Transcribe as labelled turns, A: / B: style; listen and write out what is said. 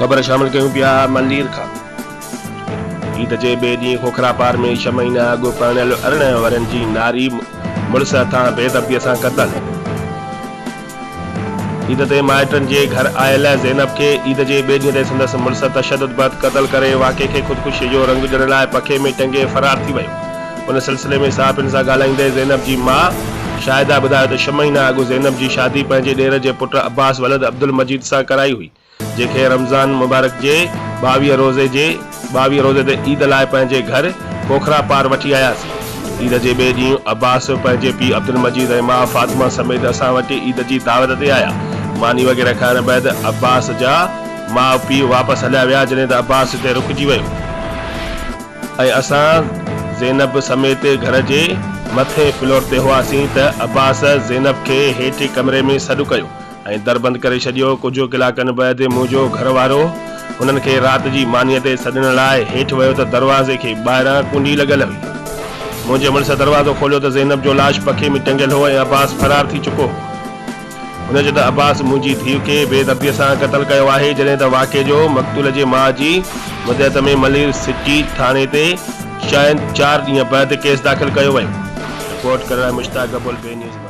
A: خبر شامل ڪيون پيا ملير کان عيد جي ٻئي ڏينهن کوکراپار ۾ ڇهه مهينا اڳ پرڻيل ارڙهن ورهين جي ناري مڙس هٿان بيدبيء سان قتل. عيد تي مائٽن جي گهر آيل زينب کي عيد جي ٻئي ڏينهن تي سندس مڙس تشدد بعد قتل ڪري واقعي کي خودڪشي جو رنگ ڏيڻ لاء پکي ۾ ٽنگي فرار ٿي ويو. ان سلسلي ۾ صحافين سان ڳالهائيندي زينب جي ماء شاهده ٻڌايو ته ڇهه مهينا اڳ زينب جي شادي پنهنجي ڏير جي پٽ عباس ولد عبدالمجيد سان ڪرائي هئي، جنهن کي رمضان مبارڪ جي ٻاويهه روزي جي ٻاويهه روزي تي عيد لاء پنهنجي گهر کوکرا پار وٺي آياسين. عيد جي ٻئي ڏينهن عباس پنهنجي پيء عبدالمجيد ۽ ماء فاطمه سميت اسان وٽ عيد جي دعوت تي آيا. ماني وغيره کائڻ بعد عباس جا ماء پيء واپس هليا ويا جڏهن ته عباس هتي رڪجي ويو ۽ اسان زينب سميت گهر جي مٿين فلور تي هئاسين ته عباس زينب کي هيٺ ڪمري ۾ سڏ ڪيو. ۽ در بند ڪري ڇڏيو. ڪجهه ڪلاڪن بعد منهنجو گهر وارو هنن کي رات جي مانيء تي سڏڻ لاء هيٺ ويو ته دروازي کي ٻاهران ڪنڊي لڳل هئي. منهنجي مڙس دروازو کوليو ته زينب جو لاش پکي ۾ ٽنگيل هو ۽ عباس فرار ٿي چڪو هو. هن چيو ته عباس منهنجي ڌيء کي بي درديء سان قتل ڪيو آهي جڏهن ته واقعي جو مقتول جي ماء جي مدعيت ۾ ملير سٽي ٿاڻي تي شايد چار ڏينهن بعد ڪيس داخل ڪيو ويو. رپورٽ ڪرڻ لاء مشتاق گبول، بي نيوز، ملير.